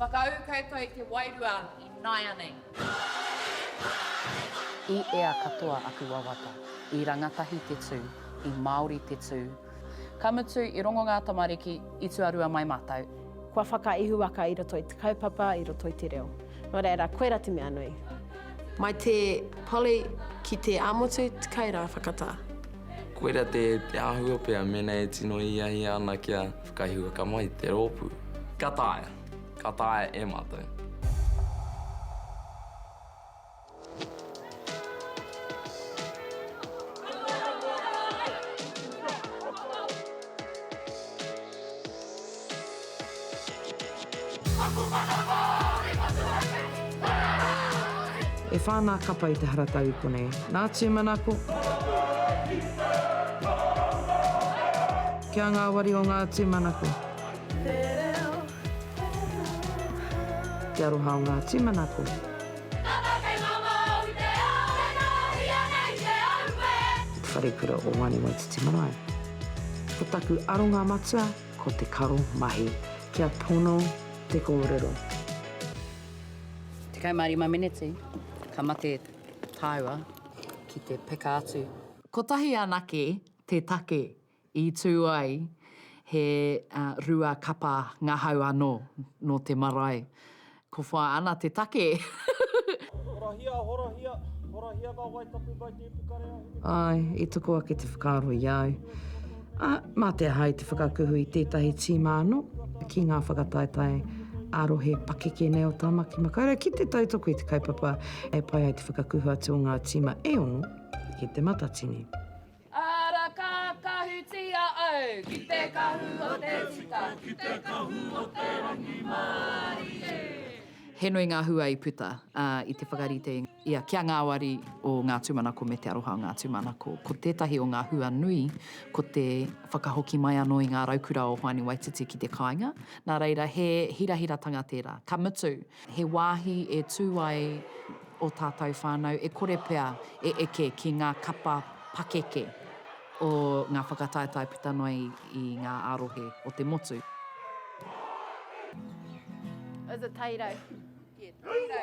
Whakaū koutou i te wairua i nāianei. I ea katoa aku wawata. I rangatahi te tū. I Māori te tū. Ka mutu, i rongo ngā tamariki, i tuarua mai mātou. Kua whakaihuwaka i roto i te kaupapa, i roto i te reo. Nō reira, koirā te mea nui. Mai te Polly ki te ā-motu, te kai rā, whakatā. Koirā te āhua pea mēnā e tino hiahia ana kia whakaihuwaka mai te rōpū. Ka taea, ka taea e mātou. E whā ngā kapa i te haratau i konei. Nā tūmanako. Kia ngāwari o ngā tūmanako. Te aroha o ngā tūmanako. Tata kei mama au i te ao e nāhi ana i te aue. Ki te wharekura o Wani Waititi Marae. Ko taku aronga matua ko te karo mahi kia pono te kōrero. Tekau mā rima meneti ka mate tāua ki te peka atu. Kotahi anake te take I tū ai he rua kapa ngahau anō nō te marae. Ko whā ana te take! Horahia, horahia, horahia ngā wai tapu mai te ipukarea hine kōrero. Āe, i toko ake te whakaaro i a au. Ā, mā te aha i te whakakuhu i tētahi tīma anō ki ngā whakataetae ā-rohe pakeke nei o Tāmaki Makaurau ki te tautoko i te kaupapa e pai ai te whakakuhu atu o ngā tīma e ono ki Te Matatini? Ara ka kahutia au ki te kahu o te tika, ki te kahu o te rangimārie. He nui ngā hua i puta i te whakarite i a Kia Ngāwari o Ngā Tūmanako me Te Aroha o Ngā Tūmanako. Ko tētahi o ngā hua nui, ko te whakahoki mai anō i ngā raukura o Hoani Waititi ki te kāinga. Nā reira, he hirahiratanga tērā. Ka mutu, He wāhi e tū ai ō tātou whānau e kore pea e eke ki ngā kapa pakeke o ngā whakataetae puta noa i ngā ā-rohe o te motu. It was a taito. Yeah, taito.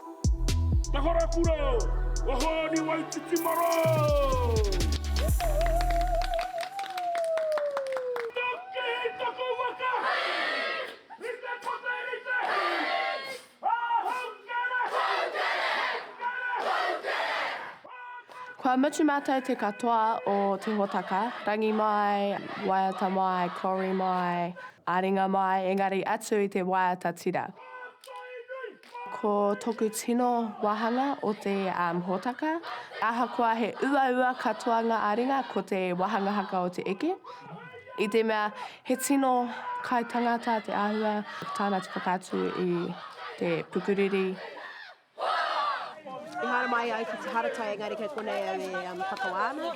Te Wharakura o Hōni Waititi Marae! Kua mutu mātou te katoa o te hōtaka, rangi mai, waiata mai, kori mai, ā-ringa mai, engari atu i te waiata tira. Ko toku tino wahanga o te hōtaka, ahakoa he uaua katoa ngā āringa, ko te wahanga haka o te eke. I te mea, he tino kaitangata te āhua tāna te whakaatu i te pukuriri. Ehara mai au ki te haratau, engari kei konei au e whakawā ana.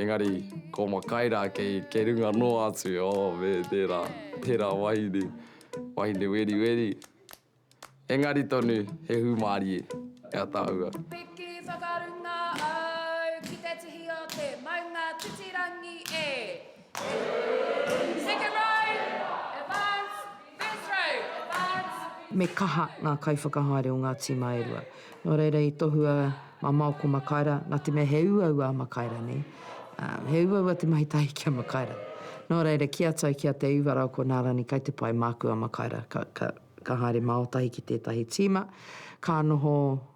Engari, ko Makai rā kei, kei runga noa atu, oh, me tērā, tērā wahine, wahine weriweri. Engari tonu, he hūmārie, e Ataahua. Piki whakarunga au ki te tihi o te maunga titirangi e. Me kaha ngā kaiwhakahaere o ngā tīma e rua. Nō reira i tohua mamao ko Makaira, nā te mea he uaua a Makaira, nē. He uaua te mahi tahi ki a Makaira. Nō reira, ki a Tau, ki a Te Uva rā, ko Nā Rani kai te pai māku a Makaira. Ka haere mao tahi ki tētahi tīma, ka noho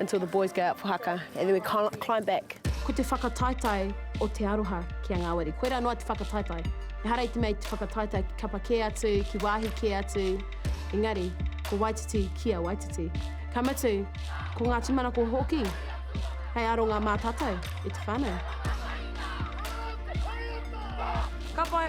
Until the boys go out for haka and then we climb back. Ko te whakataetae o te aroha ki a ngāwari. Koirā noa te whakataetae. Ehara i te mea i te whakataetae ki kapa kē atu, ki wāhi kē atu, engari, ko Waititi ki a Waititi. Ka mutu, ko ngā tūmanako hoki hei aronga mā tātou i te whānau. Ka pai.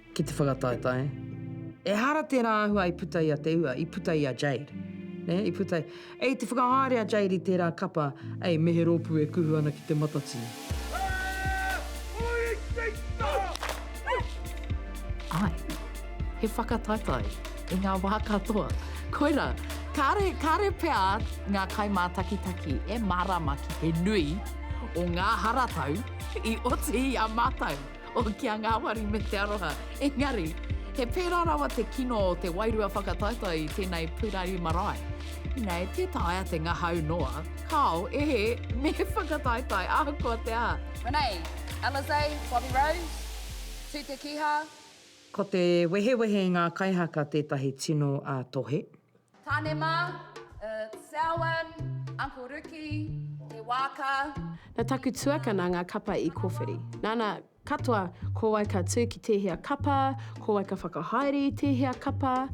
ki te whakataetae. Ehara tērā āhua i puta i a Te Ua, i puta i a Jade. Nē, i puta i. Ei te whakahaere a Jade i tērā kapa, ei, me he rōpū e kuhu ana ki te matatini. Āe, he whakataetae i ngā wā katoa. Koirā, kāre, kāre pea ngā kaimātakitaki e mārāma ki te nui o ngā haratau i oti i a mātou. o kia ngāwari me te aroha. Engari, he pērā rawa te kino o te wairua whakataetae i tēnei purari marae. Ina e tē taea te ngahau noa, kāo, ehe, me whakataetae ahakoa te aha. Renee, Alizé, Bobby Rose, tū te kīhā. Ko te wehewehe i ngā kaihaka tētahi tino ā-tohe. Tane ma, it's Selwyn, Uncle Riki, te waaka. Na taku tuakana nga kapa i kowhiri. Nana, katoa, ko wai ka tu ki tehea kapa, ko wai ka whakahaere i tehea kapa.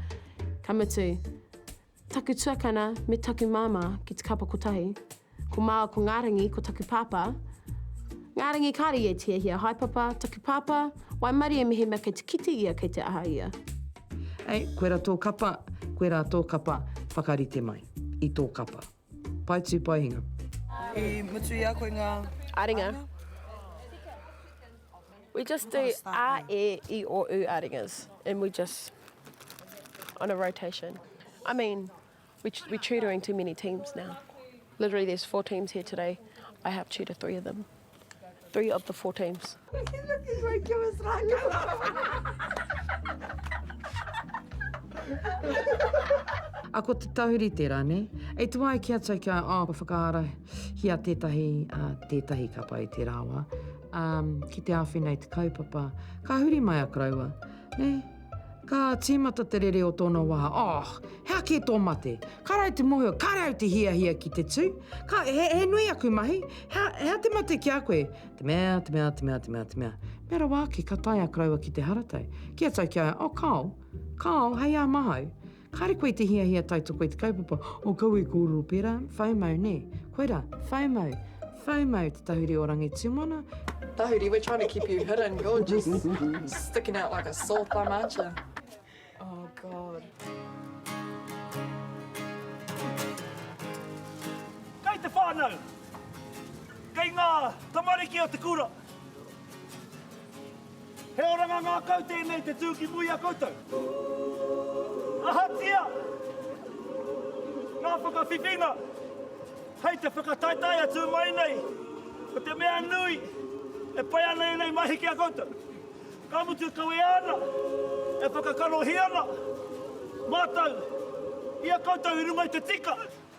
Ka mutu, taku tuakana me taku mama ki te kapa kotahi. Ko māua ko Ngārangi, ko taku pāpā. Ngārangi, kāre ia i tiehia. Hai papa, taku pāpā, waimarie mehemea kei te kite ia, kei te aha ia. Ei, koe ra tō kapa, koe rā tō kapa, whakarite mai. I tō kapa. Pae tū, pae hinga. I mutu i a koe ngā aringa? We just do a, e, i, o, u aringas and we just on a rotation. I mean. We we tutoring too many teams now. Literally there's four teams here today. I have tutor three of them. Three of the four teams. A ko te tahuri tērā, nē? E tu ai ki a tau kia, oh, ka whakaara hia tētahi, uh, tētahi ka pai te rāwa. Um, ki te awhi nei te kaupapa, ka huri mai a karaua, nē? Ka tīmata te rere o tōna wā, Oh! Hea kē tō mate? Kāre au te mōhio, kāre au te hiahia ki te tū. Ka, he, he nui aku mahi. Hea, hea te mate ki a koe? Te mea, te mea, te mea, te mea, te mea. Mea rawa ake, ka tae a koroua ki te haratau. Kīa tau ki a ia, Oh, Kao! Kao, hei āmahau. Kāre koe i te hiahia tautoko i te kaupapa o Kau i kōrero pērā, FOMO, nē? Koirā, FOMO, FOMO, te tahuri o Rangitumana. Tahuri, we're trying to keep you hidden, you're just sticking out like a sore thumb, aren't you? Oh God. Kei te whānau, kei ngā tamariki o te kura. He oranga ngākau tēnei te tū ki muri a koutou. Ahatia ngā whakawhiwhinga hei te whakataetae atu mai nei o te mea nui e pai ana ēnei mahi ki a koutou, ka mutu kawea ana e whakakarohia ana mātou i a koutou i runga i te tika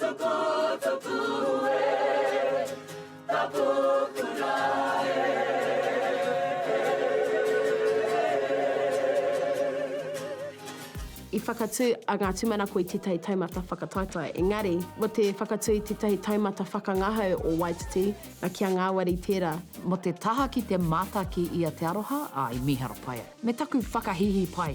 Tuku, tuku e, taku kura e. I whakatū a ngā tūmanako i tētahi taumata whakataetae, engari, mō te whakatū i tētahi taumata whakangahau o Waititi, nā kia ngāwari tērā. Mō te taha ki te mata ki ia te aroha, ā, i mīharo pai ai. Me taku whakahīhī pai.